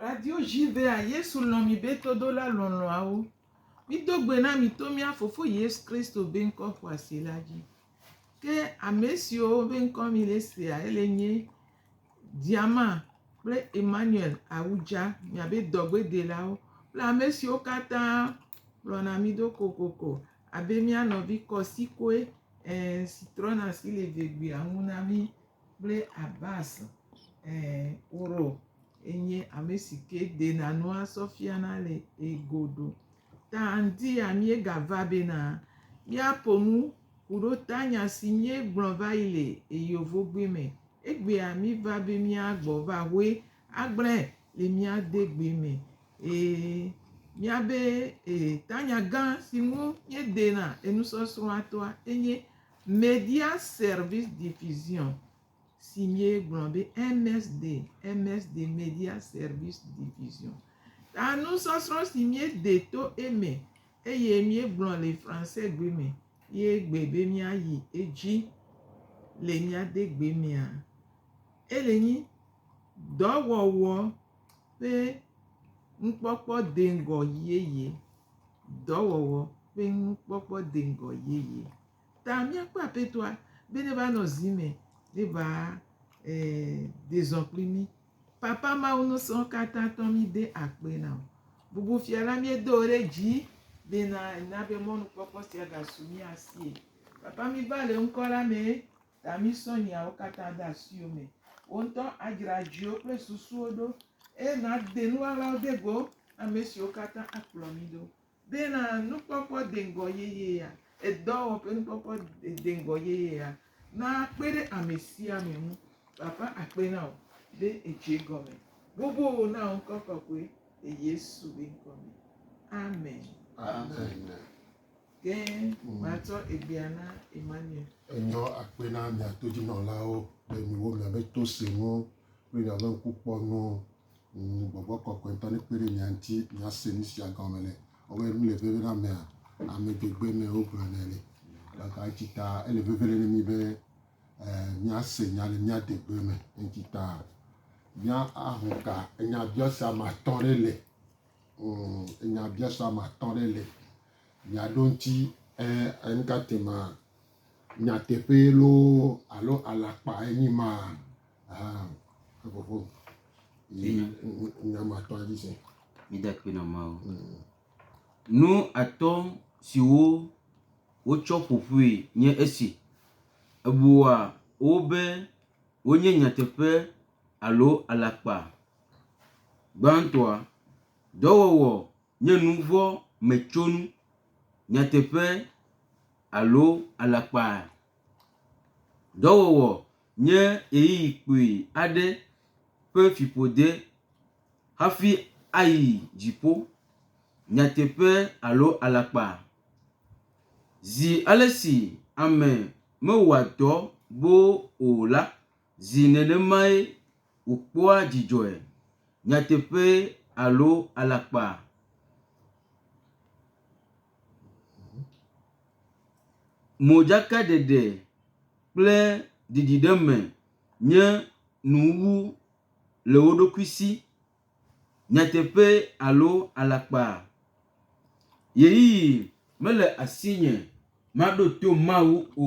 Radio Jivea, Yesu lɔ̃ mi be todola lɔlɔ̃awo. Mido gbe na mi to mía Fofo Yesu Kristo be ŋkɔ xɔasi la dzi. Ke ame siwo be ŋkɔ mi le sea, ele nye Diama kple Emmanuel Awudza, miabe dɔgbedelawo kple ame siwo katã kplɔna mi ɖo kokoko abe mía nɔvi Kɔsikoe ẽ si trɔna asi le vegbea ŋu na mí kple Abbas ẽ Woro enye ame si ke dena nua sɔ fiana le egodo. Ta ŋdi ya míegava bena míaƒo nu Ku ɖo ta nya si nyé gblɔ va yi le eyovogbe me, egbea mi va be mia gbɔ va hoe a gblɛ le mia de gbe me. E, mia be e, ta nya gã si ŋu nyé de na enusɔsrɔa toa, enye Media Service Diffusion, si míegblɔ be MSD, MSD Media Service Division, ta nusɔsrɔ̃ si míede to eme eye míegblɔ le Fransegbe me ye gbe be míayi edzi le mía de gbe mea. Ele nyi dɔwɔwɔ ƒe nukpɔkpɔ deŋgɔ yeye. Dɔwɔwɔ ƒe nukpɔkpɔ deŋgɔ yeye. ta míakpɔ Aƒetɔa be neva nɔ zi me, neva de zɔ kpli mí. Papa Mawu nusrɔ̃ katã tɔ míde akpe na wò. Bubu fia la míedo wò ɖe dzi bena na be mɔnukpɔkpɔ sia gasu mía sie. Papa míva le ŋkɔ la me ta mísɔ nyawo katã de asiwò me. Wò ŋutɔ adzra dziwo kple susuwo ɖo eye nàde nuɣaɣlawo de go ame siwo katã akplɔ mí ɖo. Bena nukpɔkpɔ deŋgɔ yeyea, edɔwɔ ƒe nukpɔkpɔ deŋgɔ yeyea nakpe ɖe amesiame ŋu. Papa akpe na wò be èdze egɔme boboo na wò ŋkɔ kɔkɔe le Yesu be ŋkɔ me. Amen. Amen. Ke matsɔ egbea na Emmanuel. Enyɔ akpe na mia todzinɔlawo le miwo miabe to se nu kple miabe ŋkukpɔ nu Ŋ, gbɔgbɔ kɔkɔe ŋutɔ nekpe ɖe mia ŋuti miase nu sia gɔme le. Wɔwɔe nu le veve na mea? Ame gbegbe ene wogblɔ nɛ le. Gake eŋuti ta ele veve le na mi be e, miase nya le mia degbe me. Eŋuti ta mía aho ka enyabiase ame atɔ ɖe le. Ŋ, enyabiase ame atɔ ɖe le. Miaɖo ŋuti e, enuka tema nyateƒee loo alo alakpae nyi ma? Haa, eƒoƒo yi nyamatɔa dzi se. Mide kpi nɔ Mawu. Nu atɔ̃ siwo wotsɔ ƒo ƒui nye esi, Èbua wo be wonye nyateƒe alo alakpa? Gbãtɔa, dɔwɔwɔ nye nu vɔ̃ me tsonu, nyateƒe alo alakpa. Dɔwɔwɔ nye ɣeyiɣi kpui aɖe ƒe fiƒode hafi ayi dziƒo. Nyateƒe alo alakpa. Zi ale si ame mewɔa dɔ boo o la Zi nenemae wòkpɔa dzidzɔe, nyateƒee alo alakpa? Modzakaɖeɖe kple ɖiɖiɖeme nye nuwuwu le wo ɖokui si, nyateƒee alo alakpa? Ɣeyiɣi mele asinye maɖo to Mawu o.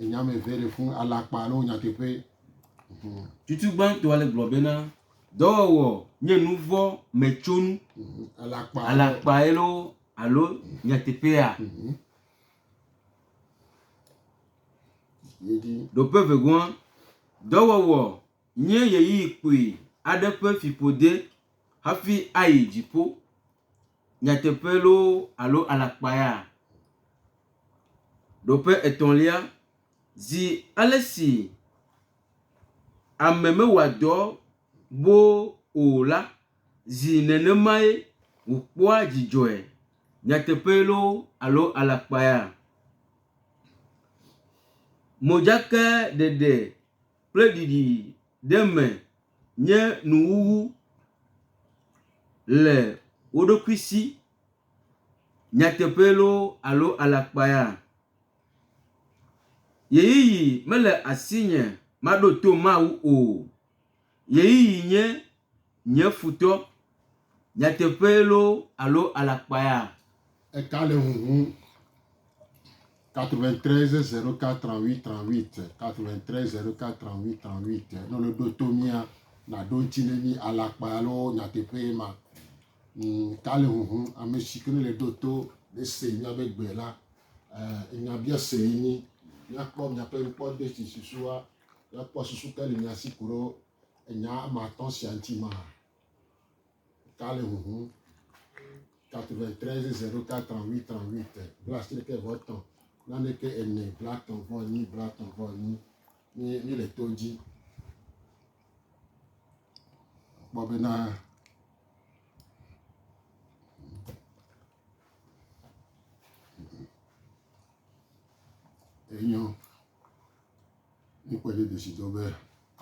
Enya me vɛ ɖe fun alakpa ne wonya teƒe. Mhm. Tutu gbãtɔa le gblɔ bena dɔwɔwɔ nye nuvɔ me tsonu. Mhm. Alakpa. Alakpa elo alo nyateƒea. Mhm. Ɖoƒe vegoa dɔwɔwɔ nye yeyi kpui aɖe ƒe fiƒode hafi ayi dziƒo. Nyateƒe loo alo alakpa ya? Ɖoƒe etɔ̃lia, Zi ale si ame mewɔa dɔ boo o la, zi nenemae wòkpɔa dzidzɔe. Nyateƒe loo alo alakpa ya? Modzakaɖeɖe. kple ɖiɖi ɖe me nye nuwuwu le wo ɖokui si. Nyateƒee loo alo alakpaa, ɣeyiɣi mele asinye maɖo to Mawu o. Ɣeyiɣi nye. Nye futɔ, nyateƒee loo alo alakpaea? Eka le ŋuŋum. 93 04 38 38 93 04 38 38 Ne wole ɖo to mía, naɖo ŋuti ne mí alakpae alo nyateƒee ma. Ka le ŋuŋum. Ame si ke le ɖo to nese míaƒe gbe la. Nyabiase enye míakpɔ míaƒe nukpɔɖeɖesusuwoa, míakpɔ susu ka le mía si ku ɖo Enya ame atɔ̃ sia ŋuti mahã. Ka le huhum. 93 088 38 blaasieke vɔ etɔ̃ naneke ene blaetɔ̃ vɔ enyi blaetɔ̃ vɔ enyi mi mi le to dzi. Kpɔ bena enyo. Míekpɔe ɖe desidɔ be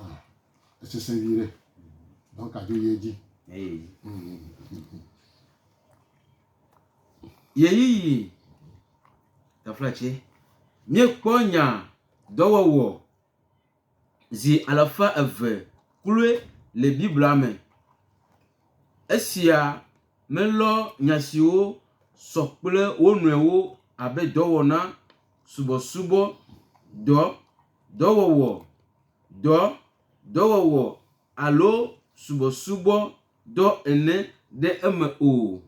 ah, esesẽ vi ɖe. Dɔka dzo yi edzi. Ɣeyiɣi taflatse. Míekpɔ nya dɔwɔwɔ zi alafa eve kloe le Biblia me. Esia melɔ nya siwo sɔ kple wo nɔewo abe dɔwɔna. subɔsubɔ dɔ, dɔwɔwɔ dɔ, dɔwɔwɔ alo subɔsubɔ dɔ ene ɖe eme o.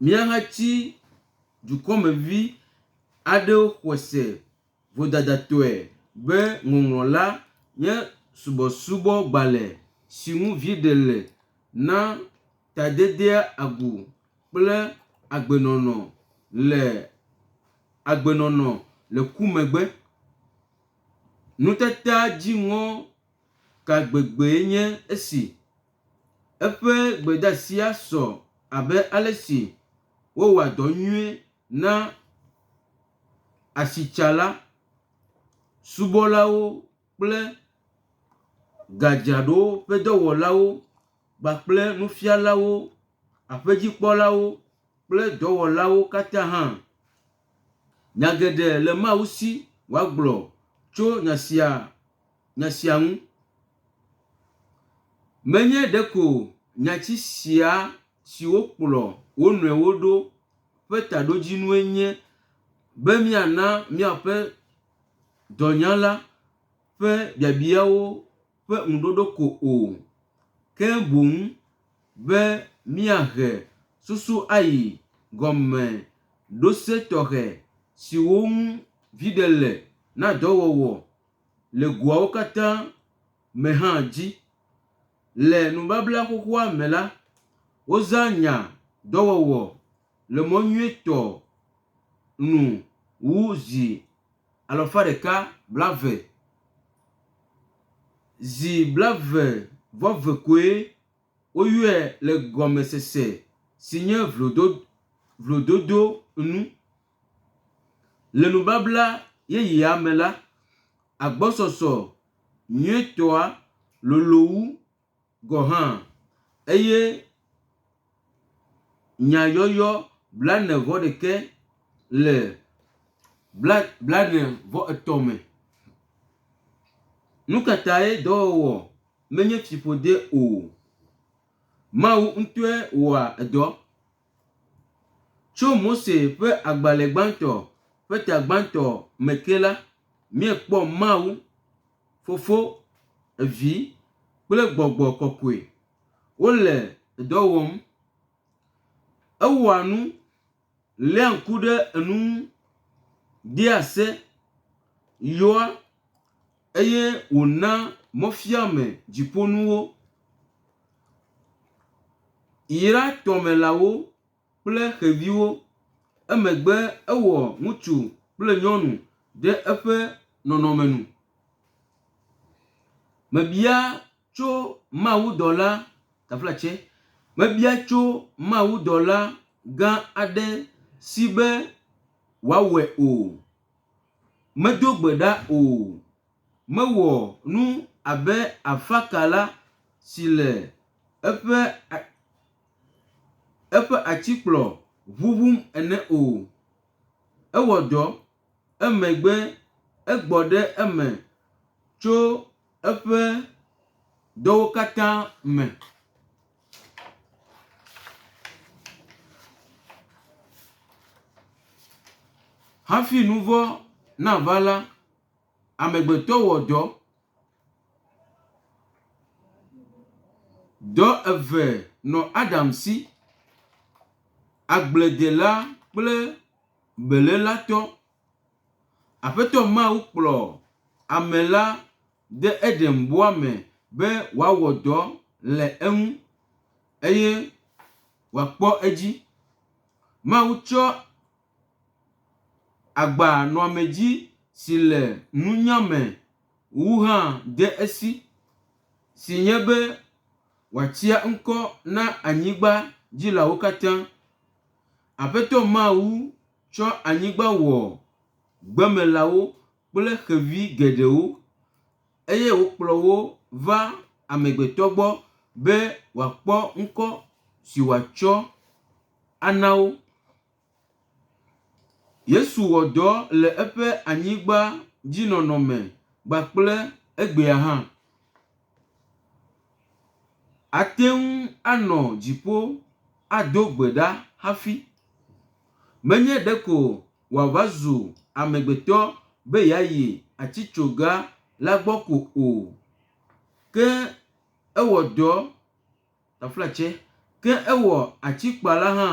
Míahatsi dukɔmevi aɖewo xɔe se. Vodadatɔe be Ŋɔŋlɔ la nye subɔsubɔgbalẽ si ŋu viɖe le na tadedea agu kple agbenɔnɔ le agbenɔnɔ le ku megbe. Nutataa dziŋɔ ka gbegbee nye esi! Eƒe gbedeasia sɔ abe ale si wowɔa dɔ nyuie na asitsala, subɔlawo kple gadzraɖowo ƒe dɔwɔlawo kpakple nufialawo, aƒedzikpɔlawo kple dɔwɔlawo katã hã. Nya geɖe le Mawu si wòagblɔ tso nya sia nya sia ŋu. Menye ɖeko nyati sia. siwo kplɔ wo nɔewo ɖo ƒe taɖodzinue nye be míana míaƒe dɔnyala ƒe biabiawo ƒe ŋuɖoɖo ko o, ke boŋ be míahe susu ayi gɔmeɖose tɔxɛ siwo ŋu viɖe le na dɔwɔwɔ le goawo katã me hã dzi. Le nubabla xoxoa me la, wozã nya dɔwɔwɔ le mɔ nyuitɔ nu wu zi alafa ɖeka blaeve. Zi blaeve vɔ ve koe woyɔe le gɔmesese si nye vlododo nu. Le nubabla yeyea me la, agbɔsɔsɔ nyuitɔa lolo wu gɔ̃ hã eye nyayɔyɔ blaene-vɔ-ɖekɛ le bla blaene-vɔ-etɔ̃ me. Nu ka tae dɔwɔwɔ menye fiƒode o? Mawu ŋutɔe wɔa dɔ. Tso Mose ƒe agbalẽ gbãtɔ ƒe ta gbãtɔ me ke la, míekpɔ Mawu, Fofo, Vi, kple Gbɔgbɔ Kɔkɔe wole dɔ wɔm. Ewɔa nu, léa ŋku ɖe enu ŋu, dea se, yɔa, eye wòna mɔfiame dziƒonuwo yra tɔmelãwo kple xeviwo. Emegbe ewɔ ŋutsu kple nyɔnu ɖe eƒe nɔnɔme nu. Mebia tso mawudɔla, tafla tsɛ, mebia tso mawudɔla gã aɖe si be wòawɔe o. Medo gbe ɖa o. Mewɔ nu abe afakala si le eƒe a, eƒe atikplɔ ʋuʋum ene o. Ewɔ dɔ. Emegbe egbɔ ɖe eme tso eƒe dɔwo katã me. Hafi nu vɔ̃ nava la, amegbetɔ wɔ dɔ. Dɔ eve nɔ Adam si, agbledela kple beléla tɔ. Aƒetɔ Mawu kplɔ ame la de Edenbɔa me be wòawɔ dɔ le eŋu eye wòakpɔ edzi. Mawu tsɔ agbanɔamedzi si le nunya me wu hã de esi, si nye be wòatia ŋkɔ na anyigba dzilawo katã. Aƒetɔ Mawu. Tsɔ anyigba wɔ gbemelãwo kple xevi geɖewo, eye wòkplɔ wo va amegbetɔ gbɔ be wòakpɔ ŋkɔ si wòatsɔ ana wo. Yesu wɔ dɔ le eƒe anyigbadzinɔnɔ me kpakple egbea hã. Ate ŋu anɔ dziƒo ado gbe ɖa hafi. Menye ɖeko wòava zu amegbetɔ be yeayi atitsoga la gbɔ ko o, ke ewɔ dɔ. Taflatse, ke ewɔ atikpa la hã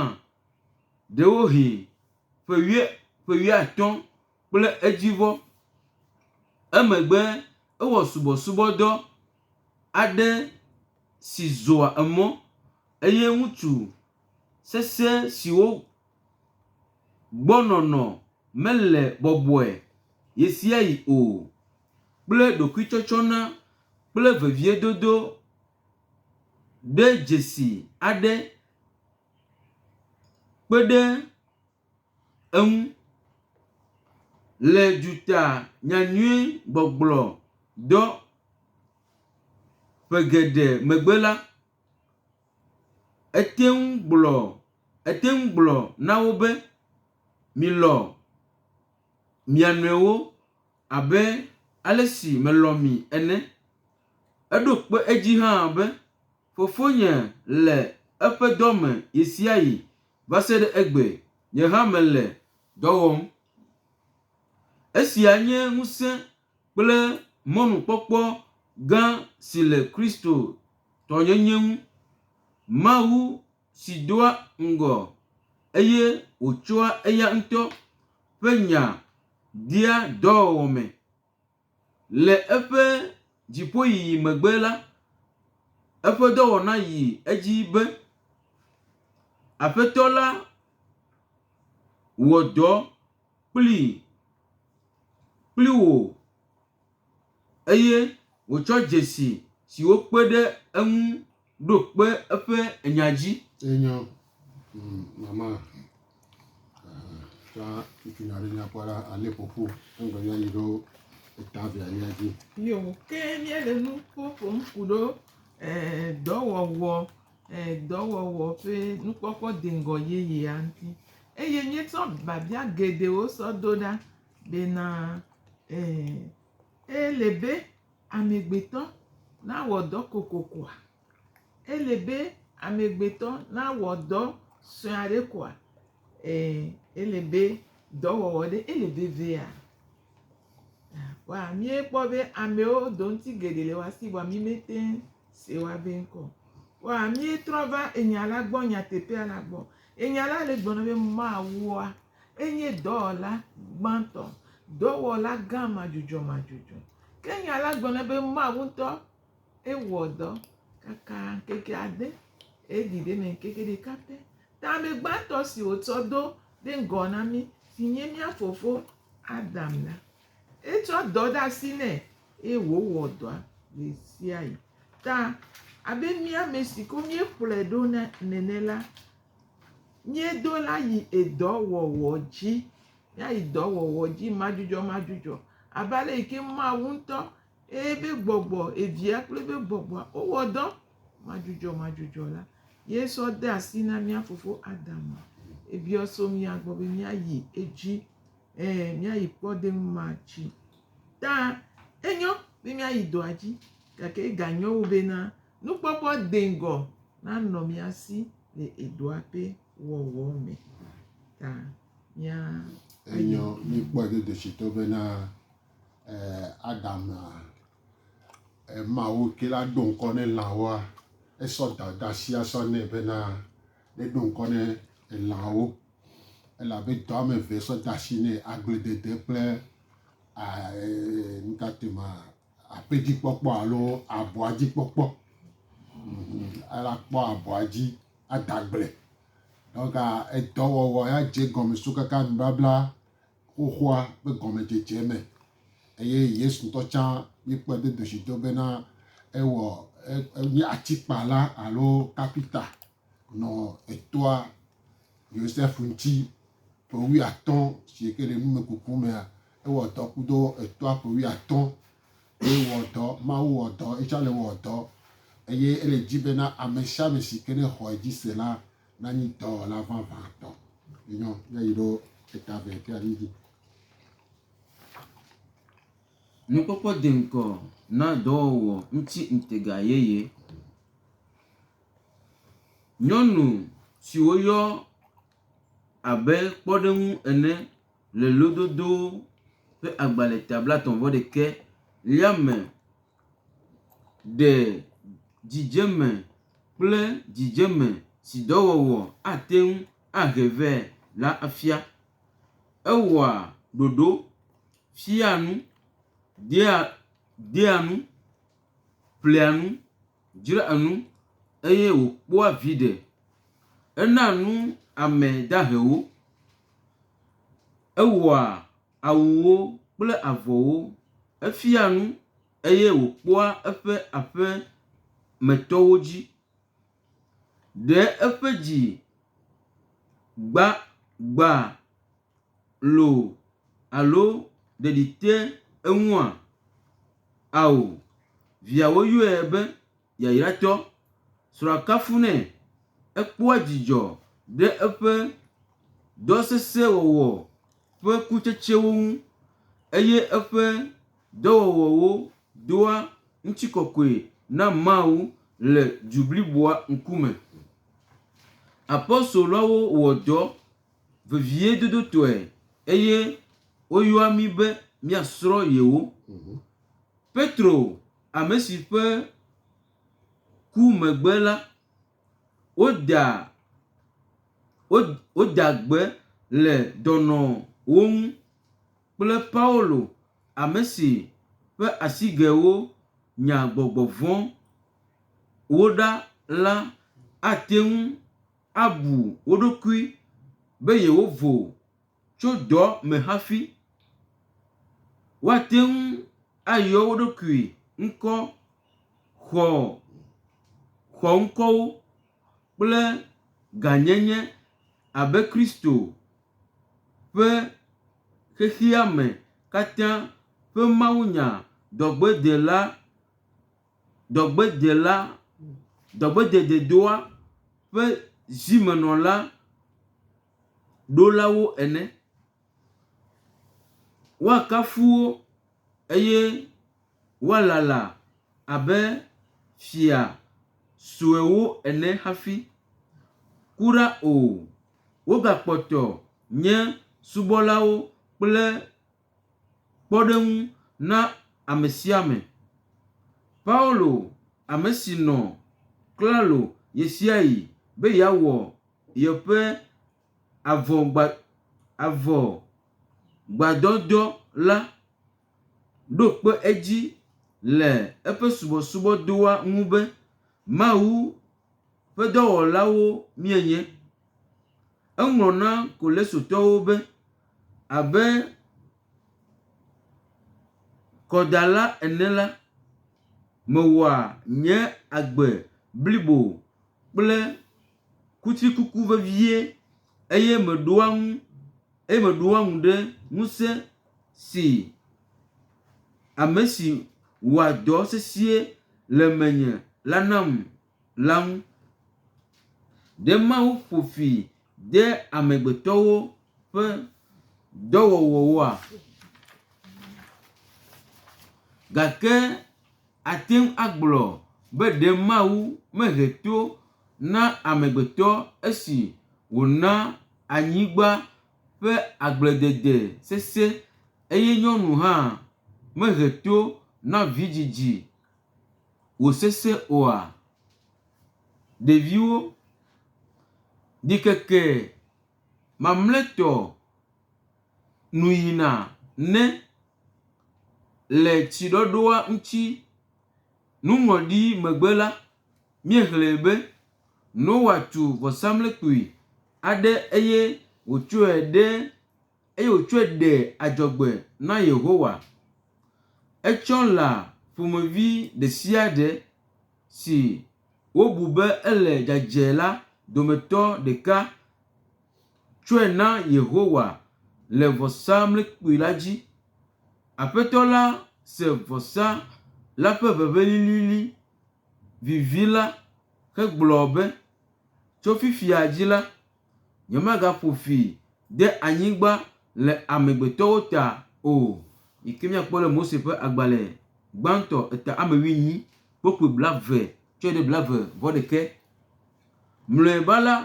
ɖewohĩ ƒe wuie, ƒe wuiatɔ̃ kple edzivɔ. Emegbe ewɔ subɔsubɔdɔ aɖe si zɔa emɔ, eye ŋutsu sesẽ siwo gbɔ nɔnɔ mele bɔbɔe ɣesiaɣi o kple ɖokuitsɔtsɔna kple veviedodo ɖe dzesi aɖe kpe ɖe eŋu le duta nyanyui gbɔgblɔ dɔ ƒe geɖe megbe la, ete ŋu gblɔ ete ŋu gblɔ na wo be, “Milɔ̃ mia nɔewo abe ale si melɔ̃ mi ene.” Eɖo kpe edzi hã be, Fofonye le eƒe dɔ me ɣesiaɣi va se ɖe egbe, nye hã mele dɔ wɔm. Esia nye ŋusẽ kple mɔnukpɔkpɔ gã si le Kristotɔnyenye ŋu. Mawu si doa ŋgɔ eye wòtsɔa eya ŋutɔ ƒe nya dea dɔwɔwɔ me. Le eƒe dziƒoyiyi megbe la, eƒe dɔwɔna yi edzi be, Aƒetɔ la wɔ dɔ kplii, kpli wò eye wòtsɔ dzesi siwo kpe ɖe eŋu. Ɖo kpe eƒe nya dzi. Enyo, mm, mama. Tsã ŋutsu nya ɖe nyakpɔ la alé ƒoƒu eŋgbe ya yi ɖo eta via ya dzi. Yo ke míele nu ƒoƒom ku ɖo e, dɔwɔwɔ e, dɔwɔwɔ ƒe nukpɔkpɔ deŋgɔ yeyea ŋuti. Eye míetsɔ biabia geɖewo sɔ do ɖa bena e, ele be Amegbetɔ nawɔ dɔ kokokoa? Ele be amegbetɔ nawɔ dɔ sue aɖe koa? Ẽ, ele be dɔwɔwɔ ɖe ele vevea? Vɔa míekpɔ be amewo do ŋuti geɖe le woa si vɔa mímete ŋu se woa be ŋkɔ o. Vɔa míetrɔ va enya la gbɔ, nyateƒea la gbɔ. Enya la le gblɔ na mí be Mawua, Enye dɔwɔla gbãtɔ, dɔwɔla gã madzudzɔmadzudzɔ. Ke nya la gblɔna be Mawu ŋutɔ ewɔ dɔ kaka ŋkeke ade eye ɖi ɖe eme ŋkeke ɖeka pɛ. Ta ame gbãtɔ si wòtsɔ do ɖe ŋgɔ na mí si nye mía fofo Adam la, etsɔ dɔ ɖe asi nɛ eye wòwɔ dɔa ɣe sia ɣi. Ta abe mía ame siwo míekplɔe ɖo nene la, Míedo la yi edɔ wɔwɔ dzi. Míayi dɔ wɔwɔ dzi madzudzɔmadzudzɔ abe ale yi ke Mawu ŋutɔ eye eƒe gbɔgbɔ, Evia kple eƒe gbɔgbɔ wowɔ dɔ madzudzɔmadzudzɔ la ye sɔ de asi na mía fofo Adam. Ebiɔ so mía gbɔ be míayi edzi ɛɛ míayi kpɔɖeŋu ma dzi. Ta enyo be míayi dɔa dzi gake eganyo wu bena. Nukpɔkpɔ deŋgɔ nanɔ mía si le edɔa ƒe wɔwɔ me ta mía. Enyɔ míkpɔe dodoshitɔ bena Adama, Mawu ke la ɖo ŋkɔ ne lãwoa, esɔ dada sia sɔ nɛ bena neɖo ŋkɔ ne lãwo, elabe dɔ ame eve sɔ da asi nɛ, agbledede kple nukatema. aƒedzikpɔkpɔ alo abɔa dzi kpɔkpɔ. Ela kpɔ abɔa dzi ada gble. Dɔnka edɔwɔwɔ ya dze gɔme so kaka nubabla xoxoa ƒe gɔmedzedze me. Eye Yesu ŋutɔ tsã míekpɔe do doshido bena ewɔ enye atikpala alo kapita nɔ etɔa Yosef ŋuti ƒe wuiatɔ̃ si ke le numekuku mea, ewɔ dɔ kudo etɔa ƒe wuiatɔ̃ eye wɔ dɔ, Mawu wɔ dɔ, etsɔ le wɔ dɔ eye ele di bena ame sia ame si ke nexɔ edzi se la nanyi dɔwɔla vavãtɔ. Enyɔ ya yi ɖo eta vɛ ke ali dzi. Nukpokpɔ di ŋkɔ na dɔwɔwɔ ŋuti ŋutega yeye. Nyɔnu si woyɔ abe kpɔɖeŋu ene le lododo ƒe agbalẽ ta blaetɔ̃ vɔ ɖekɛ ya me ɖe dzidzeme kple dzidzeme si dɔwɔwɔ ate ŋu ahe vɛ la fia. Ewɔa ɖoɖo, fiaa nu, dea dea nu ƒlea nu, dzraa nu, eye wòkpɔa viɖe. Enaa nu ame dahewo, ewɔa awuwo kple avɔwo, efiaa nu, eye wòkpɔa eƒe aƒemetɔwo dzi. Ɖe eƒe dzi gbã gbãa loo alo ɖeɖi te eŋua? Ao, viawo yɔe be yayratsɔ. Srɔ̃a kafunɛ, ekpɔa dzidzɔ ɖe eƒe dɔ sesẽ wɔwɔ ƒe kutsetsewo ŋu eye eƒe dɔwɔwɔwo doa ŋutikɔkɔe na Mawu le du bliboa ŋkume. Apostoloawo wɔ dɔ veviedodotɔe eye woyɔa mí be míasrɔ̃ yewo. Petro, ame si ƒe ku megbe la, woda woda gbe le dɔnɔwo ŋu kple Paulo, ame si ƒe asigɛwo nya gbɔgbɔ vɔ̃ wo ɖa la ate ŋu abu wo ɖokui be yewovo tso dɔ me hafi. Woate ŋu ayɔ wo ɖokui ŋkɔ xɔ xɔŋkɔwo kple gãnyenye abe Kristo ƒe xexeame katã ƒe mawunyadɔgbedela. dɔgbedzela, dɔgbedzededoa ƒe zimenɔla ɖolawo ene. Woakafu wo eye woalala abe fia suewo ene hafi. Kura o, wogakpɔtɔ nye subɔlawo kple. kpɔɖeŋu na ame sia ame. Paulo, ame si nɔ klalo ɣesiaɣi be yeawɔ yeƒe avɔgbadɔdɔ la, ɖo kpe edzi le eƒe subɔsubɔdɔa ŋu be, Mawu, ƒe dɔwɔlawo míenye. Eŋlɔ na Kolesotɔwo be, Abe kɔdala ene la, mewɔa nye agbe blibo kple kutrikuku vevie eye meɖoa ŋu. eye meɖo eŋu ɖe ŋusẽ si ame si wɔa dɔ sesĩe le menye la nam la ŋu. Ɖe Mawu ƒo fi de amegbetɔwo ƒe dɔwɔwɔwoa? Gake àte ŋu agblɔ be ɖe Mawu mehe to na amegbetɔ esi wòna anyigba ƒe agbledede sesẽ, eye nyɔnu hã mehe to na vidzidzi wòsesẽ oa? Ɖeviwo, ɖikeke mamlɛtɔ nu yina ne le tsiɖɔɖɔa ŋuti nuŋlɔɖi megbe la, míexlẽe be, Noa tu vɔsamlekpui aɖe eye wòtsɔe ɖe eye wòtsɔe ɖe adzɔgbe na Yehowa. Etsɔ lã ƒomevi ɖe sia ɖe si wobu be ele dzadzɛ la dometɔ ɖeka tsɔe na Yehowa le vɔsamlekpui la dzi. Aƒetɔ la se vɔsa la ƒe ʋeʋẽ lilili vivi la hegblɔ be, Tso fifia dzi la, nyemagaƒo fi ɖe anyigba le amegbetɔwo ta o. Yi ke míakpɔ le Mose ƒe agbalẽ gbãtɔ eta ame wuienyi, kpukpui blaeve tsɔe ɖe blaeve vɔ ɖekɛ. Mlɔeba la,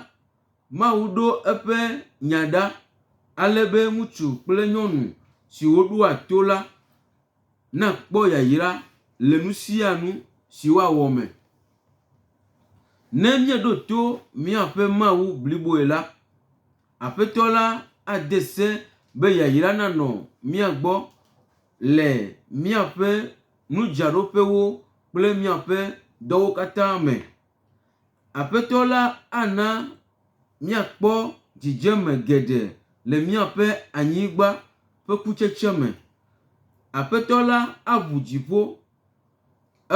Mawu ɖo eƒe nya ɖa ale be ŋutsu kple nyɔnu siwo ɖoa to la Na kpɔ yayra le nu sia nu si woawɔ me. Ne míeɖo to míaƒe Mawu bliboe la, Aƒetɔ la ade se be yayra nanɔ mía gbɔ le míaƒe nudzraɖoƒewo kple míaƒe dɔwo katã me. Aƒetɔ la ana míakpɔ dzidzeme geɖe le míaƒe anyigba ƒe kutsetse me. Aƒetɔ la aŋu dziƒo,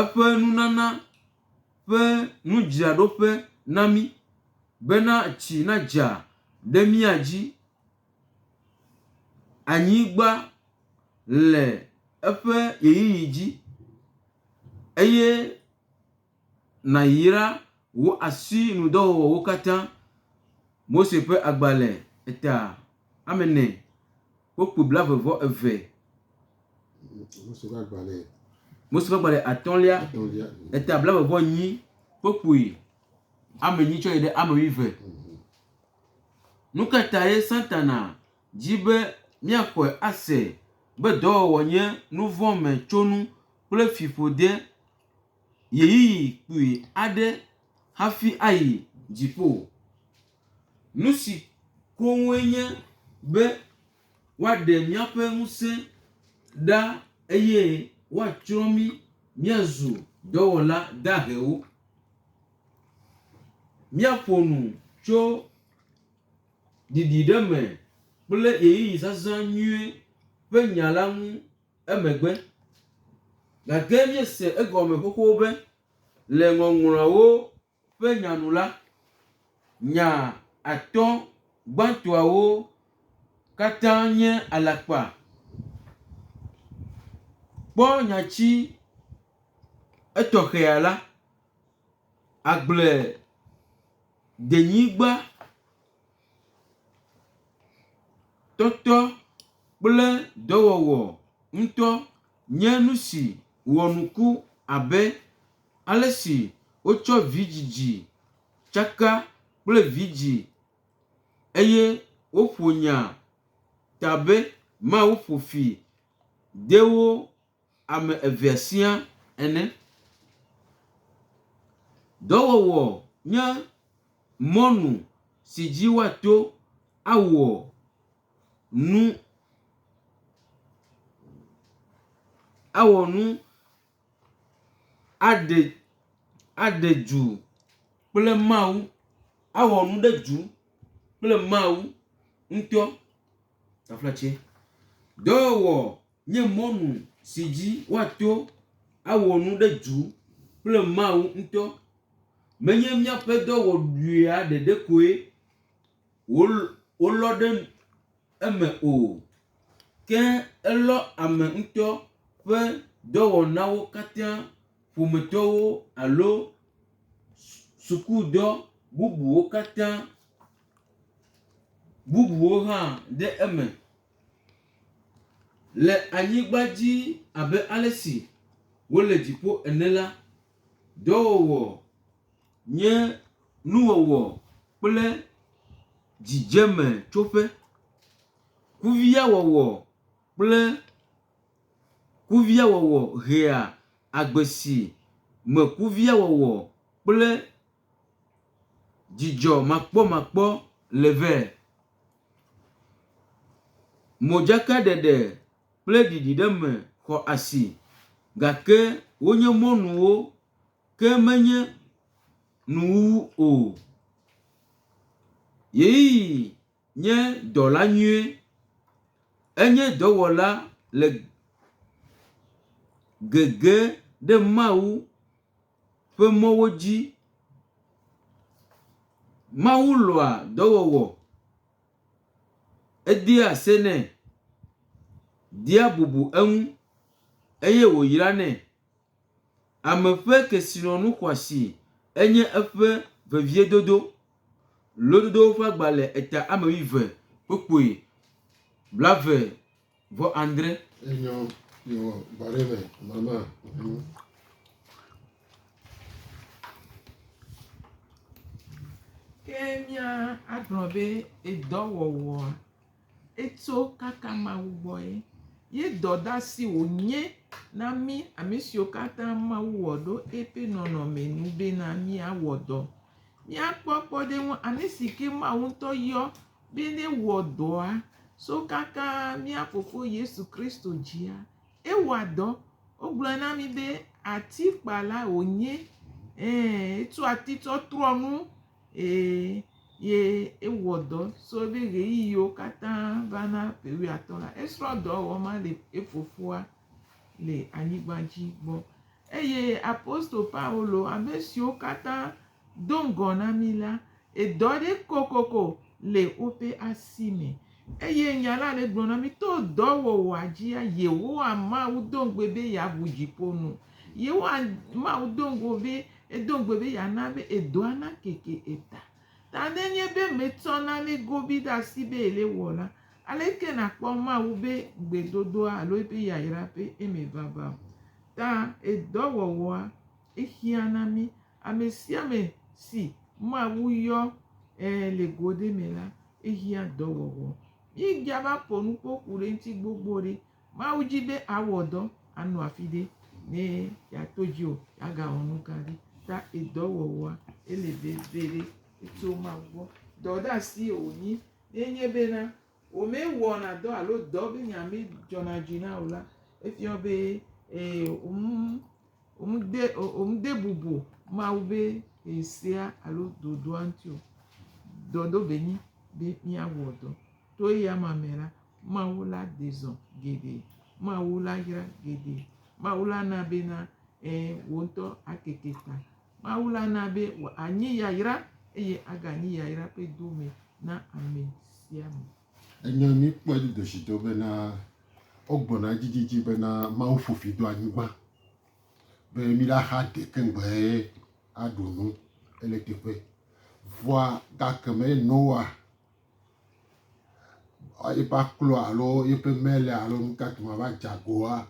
eƒe nunana ƒe nudzraɖoƒe na mí bena tsi nadza ɖe mía dzi. Anyigba le eƒe ʋeyiʋi dzi eye. Nàyra wò asinudɔwɔwɔwo katã. Mose ƒe agbalẽ eta ame ene kple kpui blaeve-vɔ-eve. Mose ƒe agbalẽ. Mose ƒe agbalẽ atɔ̃lia eta blaeve-vɔ-enyi kple kpui ame enyi tsɔ yi ɖe ame wuieve. Mhm. Nu ka tae Satana di be míaxɔe ase be dɔwɔwɔ nye nuvɔ̃metsonu kple fiƒode? ɣeyiɣi kpui aɖe hafi ayi dziƒo. Nu si koŋue nye be woaɖe míaƒe ŋusẽ ɖa eye woatsrɔ̃ mí míazu dɔwɔla dahewo. Míaƒo nu tso ɖiɖi ɖe me kple ɣeyiɣi zazã nyuie ƒe nya la ŋu. emegbe. Gake míese egɔme xoxo be le Ŋɔŋlɔawo ƒe nya nu la, nya atɔ̃ gbãtɔawo katã nye alakpa. Kpɔ nyati etɔxɛa la, Agbledenyigba. Tɔtɔ kple dɔwɔwɔ ŋutɔ nye nu si wɔnuku abe ale si wotsɔ vidzidzi tsaka kple vidzĩ eye woƒo nya ta be mawu ƒo fi de wo. ame evea siaa ene. Dɔwɔwɔ nye mɔnu si dzi woato awɔ nu, awɔ nu aɖe, aɖe du kple Mawu, awɔ nu ɖe du kple Mawu ŋutɔ. Dɔwɔwɔ. nye mɔnu si dzi woato awɔ nu ɖe du kple Mawu ŋutɔ. Menye míaƒe dɔ wɔɖuia ɖeɖe koe wolɔ ɖe eme o, ke elɔ ame ŋutɔ ƒe dɔwɔnawo katã, ƒometɔwo alo sukudɔ bubuwo katã bubuwo hã ɖe eme. Le anyigba dzi abe ale si wole dziƒo ene la, dɔwɔwɔ nye nuwɔwɔ kple dzidzemetsoƒe. Kuviawɔwɔ kple kuviawɔwɔ hea agbe si me kuviawɔwɔ kple. Dzidzɔ makpɔmakpɔ le vɛ. Modzakaɖeɖe kple ɖiɖiɖeme xɔ asi gake wonye mɔnuwo ke menye nuwuwu o. Yeyeyi nye dɔla nyui. Enye dɔwɔla le gege ɖe Mawu ŋu. ƒe mɔwo dzi. Mawu lɔ̃a dɔwɔwɔ, edea senɛ, dia bubu eŋu eye wòyranɛ. Ame ƒe kesinɔnu xɔasi enye eƒe veviedodo. Lododowo ƒe agba le eta ame wuieve kpukpui blaeve. Vɔ Andre. Enyɔ yewɔ bɔre me mama. Ke mía agblɔ be edɔwɔwɔ etso kaka Mawu gbɔ ye. Ye dɔdasi wònye na mí ame siwo katã Mawu wɔ ɖo eƒe nɔnɔme nu bena míawɔ dɔ. Míakpɔ kpɔɖeŋu ame si ke Mawu ŋutɔ yɔ Be newɔ dɔa so kaka mía Fofo Yesu Kristo dzia, ewɔa dɔ. Wogblɔe na mí be atikpala wònye, ɛ̃, etsɔ ati tsɔ trɔ nu, ɛ̃, ye ewɔ dɔ so eƒe ɣeyiɣiwo katã va na ƒe wuiatɔ̃ la. Esrɔ̃ dɔ wɔwɔ ma le efofoa le anyigba dzi gbɔ. Eye apostolo Paulo, ame siwo katã Do ŋgɔ na mí la, edɔ aɖe kokoko le woƒe asi me. Eye Nya la le gblɔm na mí to dɔwɔwɔa dzia, Yehowa Mawu do ŋugbe be yeaʋu dziƒo nu. Yehowa Mawu do ŋugbe be, edo ŋugbe be yeana be edɔa nakeke eta. Ta ne enye be metsɔ nane gobii ɖe asi be yele ewɔm la, aleke nàkpɔ Mawu ƒe gbedodoɖa alo eƒe yayra ƒe emevava o? Ta edɔwɔwɔa. Exiã na mí. Ame sia ame si Mawu yɔ le go aɖe me la, exiã dɔwɔwɔ. Míegia va ƒo nu kpɔ ku ɖe eŋuti gbogbo ɖi. Mawu di be àwɔ dɔ, anɔ afi ɖe ne yeato dziwò, agawɔ nu gã aɖe. Ta edɔwɔwɔa, ele veviɖe. Etso Mawu gbɔ. Dɔdeasie wònyi. Ye nye bena womewɔna dɔ alo dɔ be nya medzɔna dzi na o la, efia be ee, womede womede bubu Mawu be ee sea alo ɖoɖoa ŋuti o. Dɔ ɖo be nyi be míawɔ dɔ. To eya ma me la, Mawu la ɖe zɔ geɖe. Mawu la yra geɖe. Mawu la na bena ee wò ŋutɔ akeke ta. Mawu la na be wòanyi yayra eye aganyi yayra ƒe dome na ame sia ame. Enye míkpɔe dzidedzido bena wogbɔna edzidzidzi bena Mawu ƒo fi do anyigba be míɖaxa de keŋgbɛɛ aɖu nu ele teƒe. Vɔa gakemɛ Noa eƒe aklo alo eƒe mele alo nukake ma va dze agoa,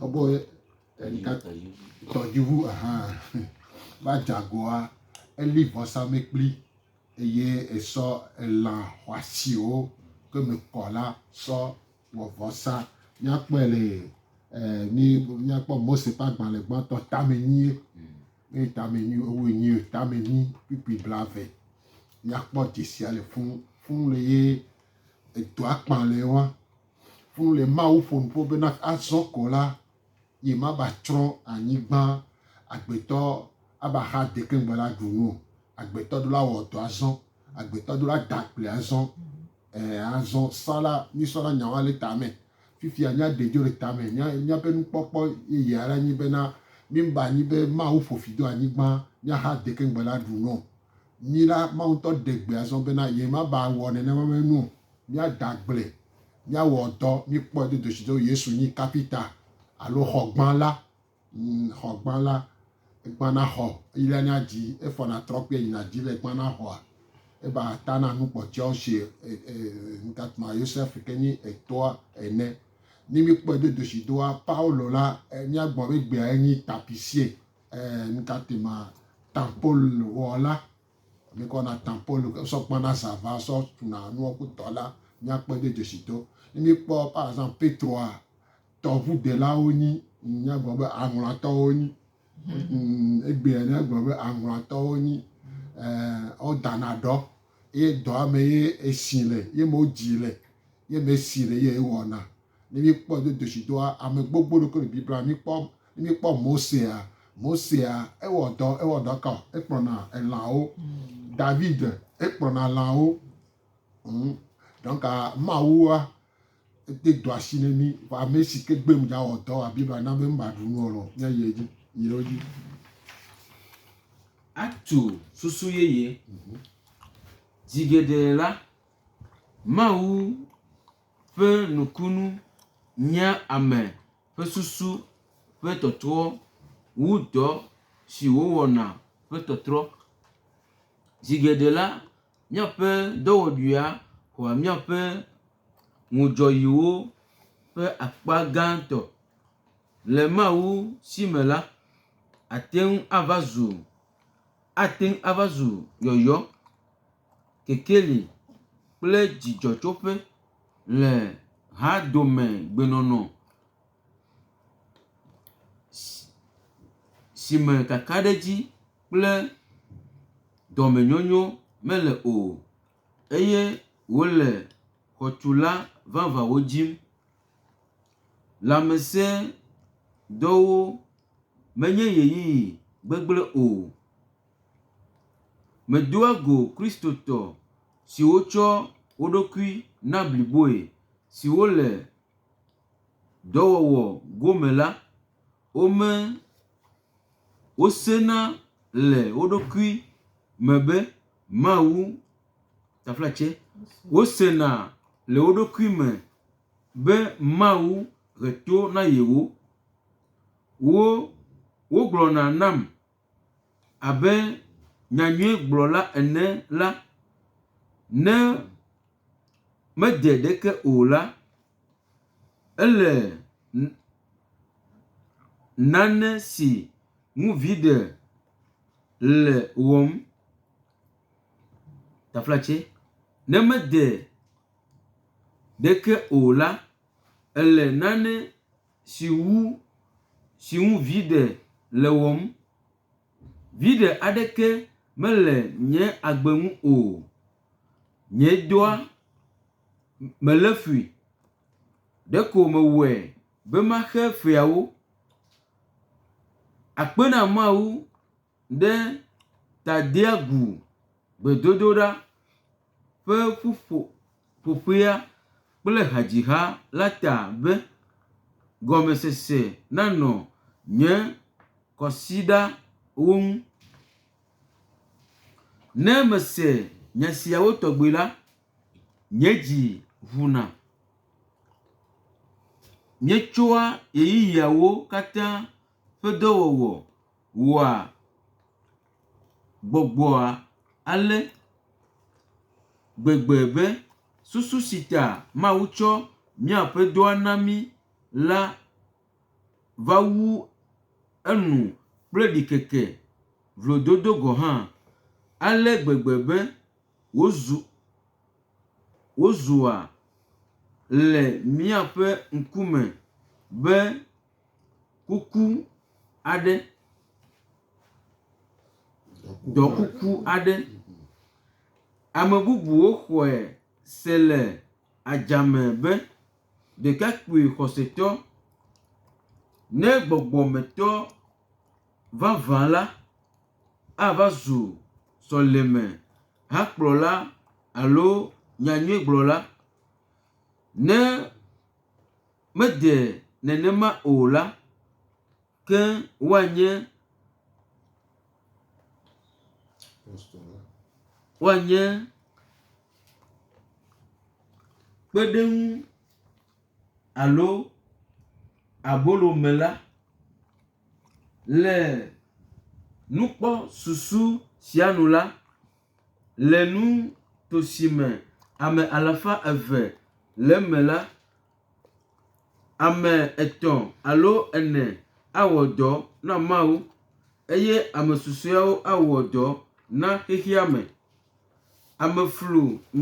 ebe Tɔdziʋu ahan va dza goa, eli vɔsamlekpui eye esɔ elã xɔasiwo ke me kɔ la sɔ wɔ vɔsa. Míakpɔe le míakpɔ Mose ƒe agbalẽ gbãtɔ tame nyuie. Eye tame nyuie wowoe nyuie o tame nyi kpukpui blave. Míakpɔ dzesia le fuu fuu le ye edɔa kpã le wa. Fuu le Mawu ƒo nuƒo be na azɔ ko la yi ma ba tsrɔ̃ anyigban agbetɔ aba xa dekɛŋgbe la ɖu nu o. Agbetɔ ɖo la wɔ dɔ azɔ. Agbetɔ ɖo la da kple azɔ. Ɛ azɔ sɔ la mi sɔ la nyawa le tame. Fifia mia ɖe dzo le tame mia miaƒe nukpɔkpɔ yeye ale nyi be na mi ba nyi be Mawu ƒo fi do anyigban mia xa dekɛŋgbe la ɖu nu o. Mi la Mawu ŋutɔ ɖe gbe azɔ be na ye ma ba wɔ nenema me nu o. Míada gble, míawɔ dɔ, míkpɔe do doshi do Yesu nyi kapita alo xɔgbã la. Ŋ, xɔgbã la. Egbã na xɔ, eyi la nya dzi, efɔna trɔ kpea yina dzi le egbã na xɔa. Eba ta na nu kpɔ tsɛɔ shi e, e, ŋtatma Yosef ke nyi etɔa ene. Ni míkpɔe do doshi doa Paulo la, e, míagbɔ be gbea enyi tapisie, e, ŋtatma tampol wɔ la, Mikɔ na tã Pɔlu ke sɔ kpana zava sɔ tuna nua ku tɔ la miakpɔ de jeshi to. Ne mikpɔ par exemple Petroa tɔʋu delawo nyi miagblɔ be aŋlɔatɔwo nyi. Egbea ne agblɔ be aŋlɔatɔwo nyi wo dana ɖɔ ye dɔa me ye esi le ye me wo dzi le ye me esi le ye wɔna. Ne míekpɔ ŋudodo si do ame gbogbo ɖokui le Biblia me, míkpɔ, ne míekpɔ Mosea, Mosea, ewɔ dɔ, ewɔ dɔ ka o? Ekplɔna elãwo. David, ekplɔna lãwo. Hm. Donc, Mawua, ede do asi ne mí. Vɔ ame si ke gbe mdza wɔ dɔ wa Biblia na be mbaɖu nu o lɔ, míayi edzi. Yi ɖe wo dzi. Atu susu yeye. Zi geɖe la, Mawu ƒe nukunu nyea ame ƒe susu ƒe tɔtrɔ wu dɔ si wòwɔna ƒe tɔtrɔ. Zi geɖe la, míaƒe dɔwɔɖuia xɔa míaƒe ŋudzɔɣiwo ƒe akpa gãtɔ. Le Mawu si me la, àte ŋu ava zu, ate ŋu ava zu yɔyɔ. kekeli kple dzidzɔtsoƒe le hadomegbenɔnɔ si me kakaɖedzi kple dɔmenyonyo mele o eye wole xɔtula vavãwo dim. Lãmesẽdɔwo menye ʋeyiʋi gbegblẽ o. Medoa go Kristotɔ siwo tsɔ wo ɖokui na bliboe siwo le dɔwɔwɔ gome la, wome, wosena le wo ɖokui me be Mawu taflatse, wosena le wo ɖokui me be Mawu he to na yewo. Wo wogblɔna nam. Abe nyanyuigblɔla ene la, ne mede ɖeke o la, ele nane si ŋu viɖe le wɔm. Ne mede ɖeke o la, ele nane si ŋu si ŋu viɖe le wɔm. Viɖe aɖeke mele nye agbe ŋu o. Nye dɔa melé fui. Ɖeko mewɔe be maxe feawo. Akpe na Mawu. ɖe Tadeagu gbedodoɖa ƒe ƒuƒoƒea kple hadziha la ta be, Gɔmesese nanɔ nye kwasiɖawo ŋu. Ne mese nya siawo tɔgbi la, nye dzi ʋuna. Míetsɔa ɣeyiɣiawo katã ƒe dɔwɔwɔ. wɔa gbɔgbɔa ale gbegbe be susu si ta Mawu tsɔ mía Aƒetɔa na mí la va wu enu kple ɖikeke, vlododo gɔ̃ hã, ale gbegbe be wòzu wòzua le míaƒe ŋkume be kuku aɖe, ɖɔ kuku aɖe. Ame bubuwo xɔe se le adzame be ɖekakpui xɔsetɔ ne gbɔgbɔmetɔ vavã la ava zu sɔleme hakplɔla alo nyanyuigblɔla ne. mede nenema o la, ke woanye, woanye kpeɖeŋu alo abolomela le nukpɔsusu sia nu la, le nuto si me ame alafa eve le eme la, Ame etɔ̃ alo ene awɔ dɔ na Mawu eye ame susɔewo awɔ dɔ na xexea me. Ame flu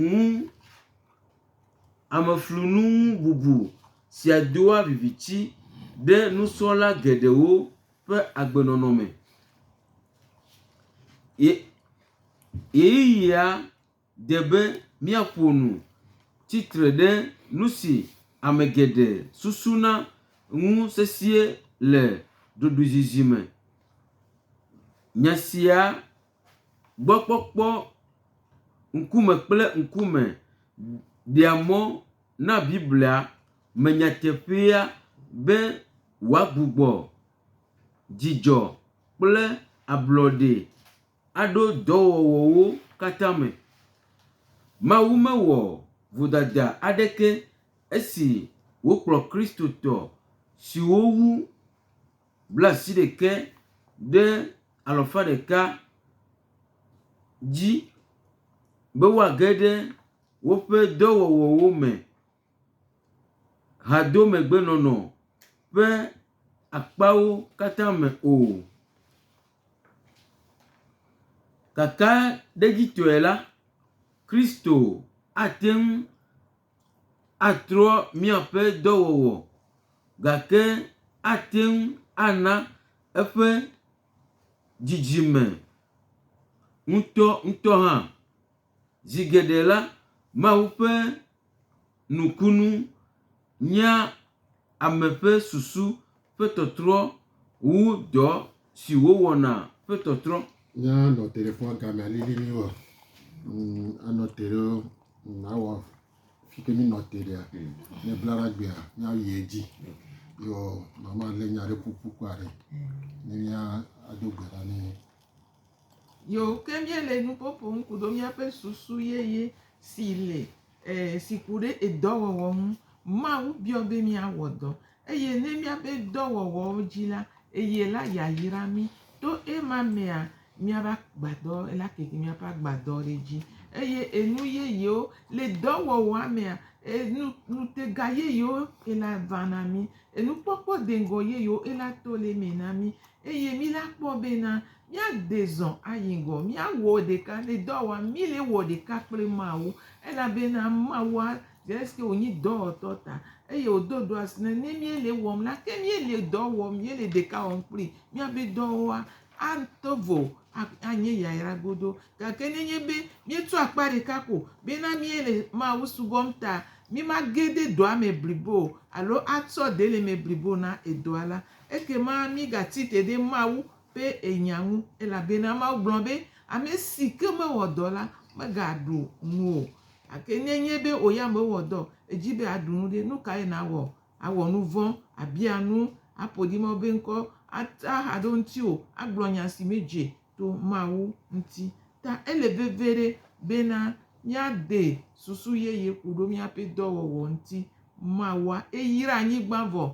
ŋu, ame flu nu ŋu bubu sia doa viviti ɖe nusrɔ̃la geɖewo ƒe agbenɔnɔ me. Ye ɣeyiɣia. de be míaƒo nu tsi tre ɖe nu si ame geɖe susuna ŋu sesĩe le ɖoɖoezizi me. Nya sia gbɔ kpɔkpɔ ŋkume kple ŋkume ɖea mɔ na Biblia me nyateƒea be wòagbugbɔ dzidzɔ kple ablɔɖe. aɖo dɔwɔwɔwo katã me. Mawu mewɔ vodada aɖeke esi wòkplɔ Kristotɔ siwo wu blaasiɖeke ɖe alafa ɖeka dzi be woage ɖe woƒe dɔwɔwɔwo me. hadomegbenɔnɔ ƒe akpawo katã me o. Kakaɖedzitɔe la, Kristo ate ŋu atrɔ míaƒe dɔwɔwɔ gake ate ŋu ana eƒe dzidzime ŋutɔŋutɔ hã. Zi geɖe la, Mawu ƒe nukunu nyea ame ƒe susu ƒe tɔtrɔ wu dɔ si wòwɔna ƒe tɔtrɔ. Nye anɔ te ɖe fɔa game alili mi wa. Mm, anɔ te ɖe mm, awɔ fi ke mi nɔ te ɖea. Ne bla ɖa gbea, mi ayi edzi. Yo mama le nya ɖe ƒuƒu kɔ aɖe. Ne mia ado gbe ɖa ne Yoo, ke míele nu ƒo ƒom ku ɖo míaƒe susu yeye si le, e, si ku ɖe edɔwɔwɔ ŋu. Mawu biɔ be míawɔ dɔ. Eye ne míabe dɔwɔwɔwo dzi la, eye la yayra mí. To ema mea, míabe agbadɔ, ela keke míaƒe agbadɔ ɖe edzi. Eye enu yeyewo le dɔwɔwɔa mea, enu, ŋutega yeyewo ela va na mí. Enukpɔkpɔ deŋgɔ yeyewo ela to le eme na mí. Eye mí la kpɔ bena míade zɔ ayi ŋgɔ, míawɔ ɖeka ne dɔa wɔm mí le wɔ ɖeka kple Mawu, elabena Mawua dze esike wònyi dɔwɔtɔ ta, eye wòdo ɖoasi ne ne míele wɔm la, ke míele dɔ wɔm, míele ɖeka wɔm kpli, míabe dɔwoa ato vo anye yayra godo. Gake nenye be míetu akpa ɖeka ko bena míele Mawu subɔm ta, mímage ɖe dɔa me blibo o, alo atsɔ ɖe le eme blibo na edɔa la, Ekema mígati te ɖe Mawu ƒe enya ŋu, elabena Mawu gblɔ be, Ame si ke mewɔ dɔ la, megaɖu nu o. Gake ne enye be wò ya mèwɔ dɔ o, èdi be àɖu nu ɖe, nu kae nàwɔ? Àwɔ nu vɔ̃, àbia nu, aƒo ɖi Mawu ƒe ŋkɔ, atra ha ɖe ŋutiwò, agblɔ nya si medze to Mawu ŋuti. Ta ele veviɖe bena míade susu yeye ku ɖo míaƒe dɔwɔwɔ ŋuti. Mawua eyra anyigba vɔ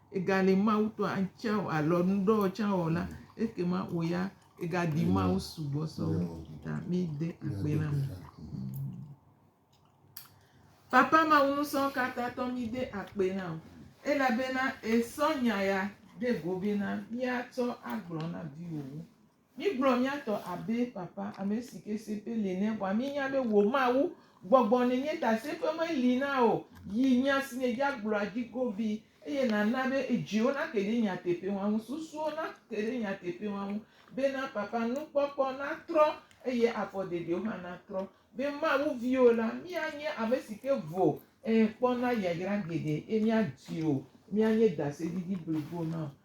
Egali Mawu tɔ atsã o alo nuɖɔ tsã o la, ekema wò ya ègadi Mawu sugbɔ sɔ wu ta mide akpe la me. Papa Mawu nusɔkatãtɔ mide akpe na wò elabena èsɔ nya ya ɖe go bena míatsɔ agblɔ na viwòwo. Mígblɔ mía tɔ abe papa ame si ke seƒe li nɛ vɔa míenya be wò Mawu gbɔgbɔ nènye ta seƒe meli na o. Yi nya si nèdze agblɔa dzi godii, eye nàna be edziwo nake ɖe nyateƒewoa ŋu, susuwo nake ɖe nyateƒewoa ŋu, bena papa nukpɔkpɔ natrɔ, eye afɔdedewo hã natrɔ, be Mawu viwo la, míanye ame si ke vo, ɛ̃, kpɔna yayra geɖe, eye míadi wò míanye dasedidi blibo na wò.